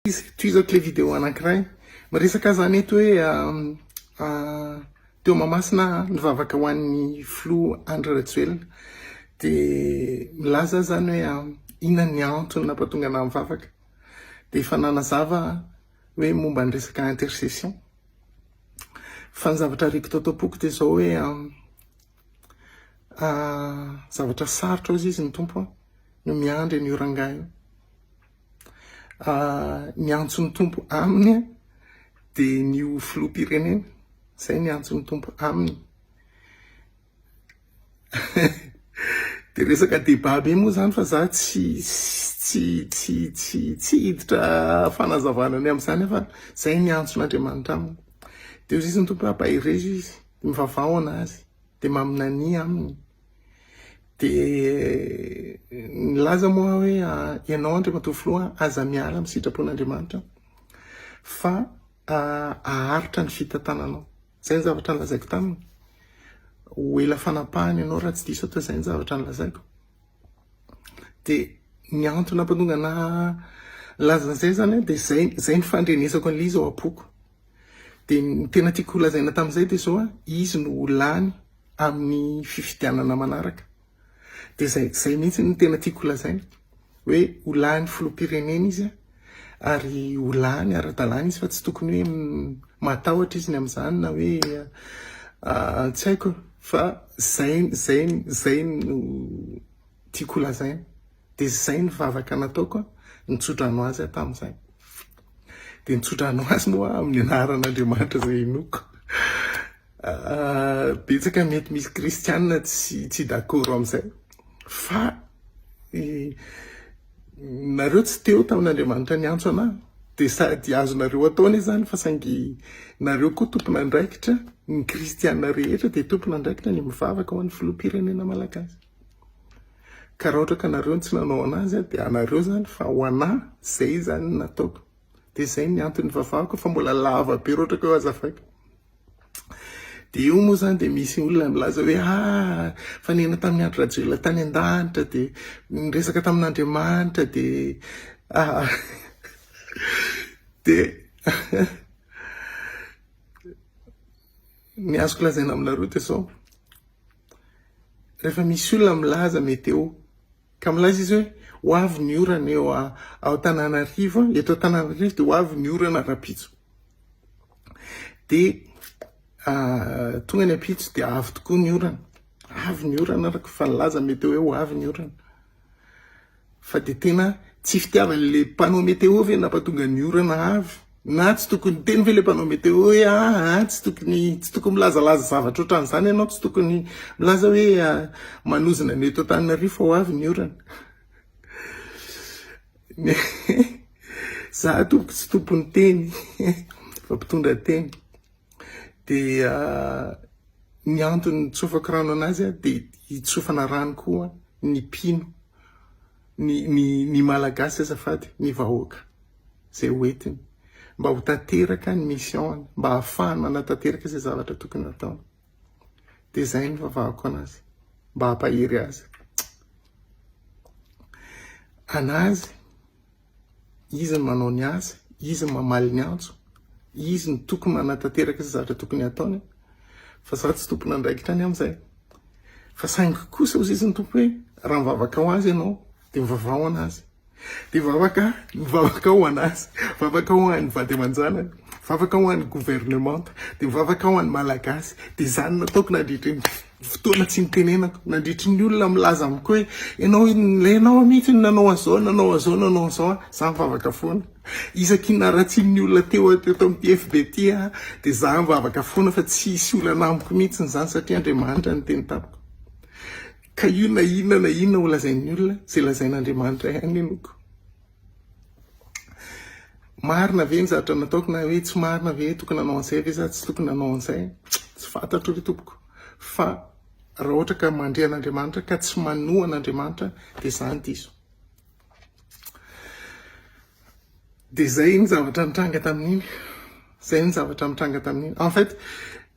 Izy, toy izao kle video anankiray, miresaka aza mety hoe teo Mahamasina nivavaka ho an'ny filoha Andry Rajoelina, dia milaza azy zany hoe inona ny antony nampatonga anah mivavaka, dia efa nanazava hoe momba ny resaka intercession, fa ny zavatra ariko tao tampoko dia izao hoe zavatra sarotra hozy izy ny Tompo no miandry an'io rangahy io. Ny antso ny Tompo aminy dia ny ho filoham-pirenena. Izay ny antso ny Tompo aminy. Dia resaka débat be moa izany fa za tsy tsy tsy tsy tsy hiditra fanazavana ny amin'izany fa izay ny antson'Andriamanitra aminy. Dia hoy Jesosy ny Tompo hoe ampaherezo izy, mivavaha ho an'azy, dia maminania aminy. Dia nilaza moa aho hoe, ianao Andriamatoa Filoha aza miala amin'ny sitrapon'Andriamanitra fa haharitra ny fitantananao. Izay ny zavatra nilazaiko taminy. Ho ela fanapahany ianao raha tsy diso aho, izay ny zavatra nilazaiko. Dia ny antony nampantonga an'ahy nilaza an'izay izany dia izay, izay ny fandrenesako an'ilay izy ao am-poko. Dia ny tena tiako holazaina tamin'izay dia izao, izy no ho lany amin'ny fifidianana manaraka. Dia izay, izay mihitsy no tena tiako holazaina. Hoe ho lany filoham-pirenena izy ary ho lany ara-dalàna izy fa tsy tokony hoe matahotra izy ny amin'izany na hoe tsy haiko fa izay, izay, izay no tiako holazaina. Dia izay ny vavaka nataoko an, ny tsodrano azy aho tamin'izay. Dia ny tsodrano azy moa amin'ny anaran'Andriamanitra izay hinoako. Ah, betsaka mety misy kristianina tsy tsy dakoro amin'izay. Fa i, nareo tsy teo tamin'Andriamanitra niantso anah. Dia sady azonareo atao anie izany fa saingy nareo koa tompon'andraikitra, ny kristianina rehetra dia tompon'andraikitra ny mivavaka ho an'ny filoham-pirenena malagasy. Ka raha ohatra ka nareo no tsy nanao anazy dia anareo zany fa ho anà zay zany no nataoko. Dia zay ny antony nivavahako fa mbola lava be raha ohatra ka hoe azafady. Dia io moa zany dia misy olona milaza hoe ah fa niaina tamin'i Andry Rajoelina tany an-danitra dia niresaka tamin'Andriamanitra dia ah dia ny azoko lazaina aminareo dia zao. Rehefa misy olona milaza meteo ka milaza izy hoe ho avy ny orana eo ao Tananarivo, eto Tananarivo dia ho avy ny orana rahampitso. Dia tonga ny ampitso dia avy tokoa ny orana. Avy ny orana araka ny fa nilaza meteo hoe ho avy ny orana. Fa de tena tsy fitiavany le panneau météo ve napatonga ny orana avy? Na tsy tokony hiteny ve le panneau météo hoe aa ah, tsy tokony tsy tokony milazalaza zavatra otran'izany ianao, tsy tokony milaza hoe ah, manozona ny eto Antananarivo fa ho avy ny orana. Za tompoko tsy tompon'ny teny fa mpitondra teny. Dia ny antony nitsofako rano anazy aho dia hitsofana rano koa ny mpino, ny, ny, ny malagasy azafady, ny vahoaka, izay hoentiny, mba ho tanteraka ny mission-ny, mba hahafahany manatanteraka izay zavatra tokony hataony. Dia izay ny vavahako anazy, mba hampahery azy. Anazy, Izy no manao ny asa, izy no mamaly ny antso, izy no tokony manatanteraka izay zavatra tokony hataony fa za tsy tompon'andraikitra any amin'izay. Fa saingy kosa hoy izy ny tompo hoe raha mivavaka ho azy ianao dia mivavaha ho anazy. Dia vavaka, mivavaka ho anazy, vavaka ho an'ny vady aman-janany, vavaka ho an'ny governemanta, dia vavaka ho an'ny malagasy, dia izany nataoko nandritry ny fotoana tsy nitenenako nandritry ny olona milaza amiko hoe ianao ilay ianao mihitsy no nanao an'izao nanao an'izao nanao an'izao a za mivavaka foana isaky naratsian'ny olona teo teto amin'ny FB ty a dia za mivavaka foana fa tsy hisy olana amiko mihitsy izany satria Andriamanitra ny teny tamiko ka io na inona na inona ho lazain'ny olona izay lazain'Andriamanitra ihany henoko Marina ve ny zavatra nataoko na hoe tsy marina ve tokony nanao an'izay ve za tsy tokony nanao an'izay tsy fantatro ry tompoko fa raha ohatra ka mandre an'Andriamanitra ka tsy manoa an'Andriamanitra dia izany diso dia izay ny zavatra nitranga tamin'iny Zay ny zavatra nitranga tamin'iny. En fait,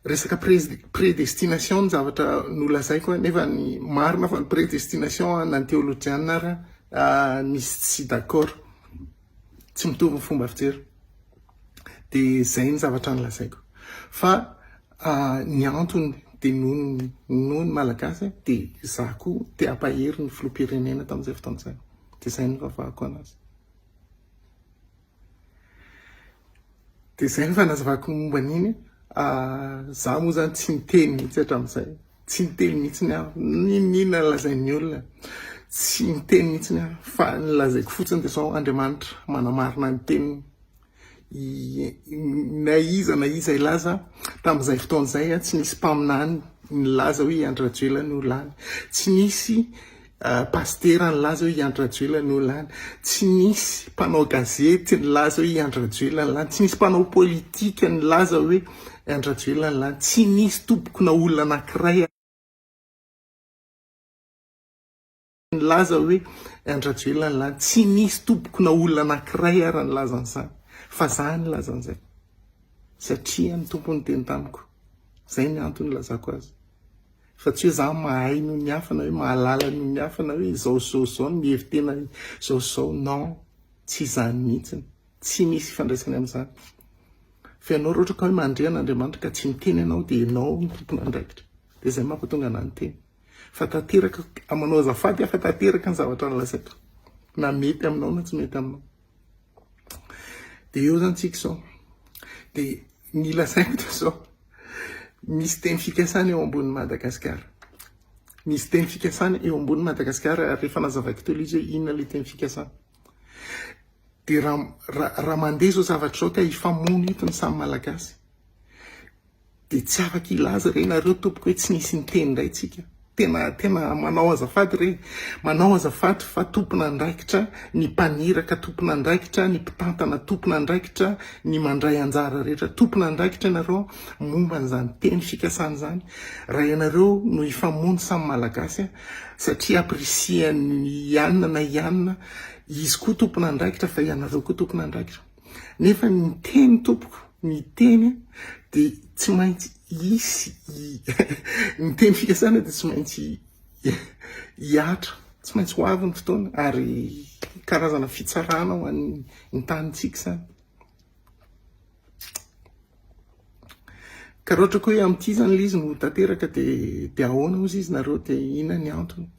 resaka predestination ny zavatra nolazaiko nefa ny marina fa ny predestination na ny teolojiana ary ah, misy tsy d'accord. Tsy mitovy ny fomba fijery. Dia zay ny zavatra nolazaiko. Fa ah, ny antony dia noho noho ny malagasy dia za koa te hampahery ny filoham-pirenena tamin'izay fotoana izay. Dia zay no nivavahako anazy. Dia izay no fanazavako ny momba an'iny. Za moa zany tsy niteny mihitsy hatramin'izay. Tsy niteny mihitsy ny aho. N'inon'inona lazain'ny olona. Tsy niteny mihitsy ny aho. Fa ny lazaiko fotsiny dia izao, Andriamanitra manamarina ny teniny. Na iza na iza hilaza tamin'izay fotoana izay, tsy nisy mpaminany nilaza hoe i Andry Rajoelina no lany. Tsy nisy Pasitera nilaza hoe i Andry Rajoelina no lany. Tsy nisy mpanao gazety nilaza hoe i Andry Rajoelina no lany. Tsy nisy mpanao politika nilaza hoe i Andry Rajoelina no lany. Tsy nisy tompoko na olona anankiray nilaza hoe i Andry Rajoelina no lany. Tsy nisy tompoko na olona anankiray ary nilaza an'izany. Fa za nilaza an'izay. Satria ny Tompo niteny tamiko. Izay ny antony nilazako azy. Fa tsy hoe za mahay noho ny hafa na hoe mahalala noho ny hafa na hoe izao sy izao sy izao no mihevi-tena izao sy izao. Non, tsy izany mihitsiny. Tsy misy ifandraisany amin'izany. Fa ianao raha ohatra ka hoe mandre an'Andriamanitra ka tsy miteny ianao dia ianao no tompon'andraikitra. Dia izay mampatonga anà niteny. Fa tanteraka, manao azafady aho fa tanteraka ny zavatra nolazaiko. Na mety aminao na tsy mety aminao. Dia eo zany tsika izao. Dia ny lazaiko dia izao, misy teny fikasana eo ambonin'i Madagasikara. Misy teny fikasana eo ambonin'i Madagasikara ary rehefa nazavaiko teo izy hoe inona ilay teny fikasana. Dia raha raha mandeha izao zavatra izao ka hifamono eto ny samy malagasy. Dia tsy afaka hilaza re nareo tompoko hoe tsy nisy niteny indray tsika. Tena tena manao azafady re. Manao azafady fa tompon'andraikitra ny mpaniraka, tompon'andraikitra ny mpitantana, tompon'andraikitra ny mandray anjara rehetra, tompon'andraikitra ianareo momba an'izany teny fikasana izany. Raha ianareo no hifamono samy Malagasy a, satria apprécier an'i Anna na i Anna, izy koa tompon'andraikitra fa ianareo koa tompon'andraikitra. Nefa ny teny tompoko, ny teny dia tsy maintsy hisy ny teny fikasana dia tsy maintsy hiatra, tsy maintsy ho avy ny fotoana ary karazana fitsarana ho an'ny tanintsika izany. Ka raha ohatra koa hoe amin'ity izany ilay izy no tanteraka dia dia ahoana hozy izy nareo dia inona ny antony?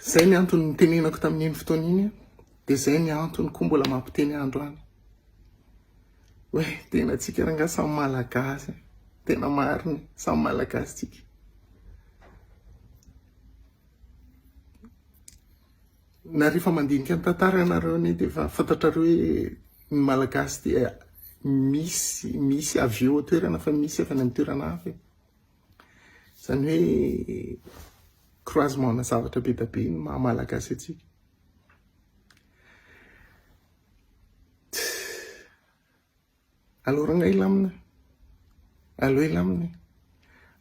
Izay ny antony nitenenako tamin'iny fotoana iny dia izay ny antony koa mbola mampiteny androany. Hoe tena tsika rangaha samy malagasy, tena marina, samy malagasy tsika. Na rehefa mandinika ny tantara ianareo anie dia efa fantatrareo hoe ny malagasy dia misy, misy avy eo toerana fa misy avy any amin'ny toerana hafa. Izany hoe croisement-na zavatra be dia be ny maha Malagasy antsika. Allo ranga hilamina, allo hilamina,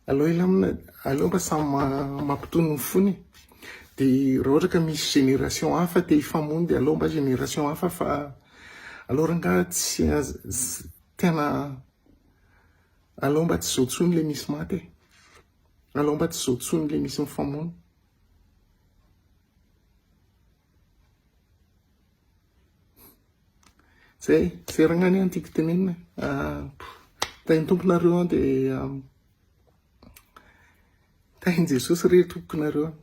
allo hilamina, allo mba samy mampitony ny fony. Dia raha ohatra ka misy génération hafa te hifamono dia allo mba génération hafa fa allo ranga tsy tena Alao mba tsy zao tsony le misy maty e! Alao mba tsy zao tsony le misy mifamono. Zay, zeragna anie ny tiako tenenina e! Ah, tahin'ny Tompo nareo an, dia tahin'i Jesosy re Tompoko nareo an.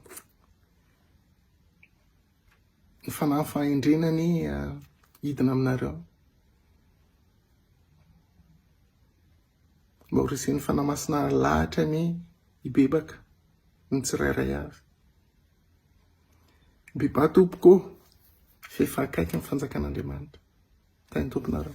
Ny fanahy fahendrena anie hidina aminareo. Mba ho resen'ny fanahy masina lahatra anie hibebaka ny tsirairay avy. Bebà tompoko ô, fa efa akaiky ny fanjakan'Andriamanitra. Tahin'ny tomponareo.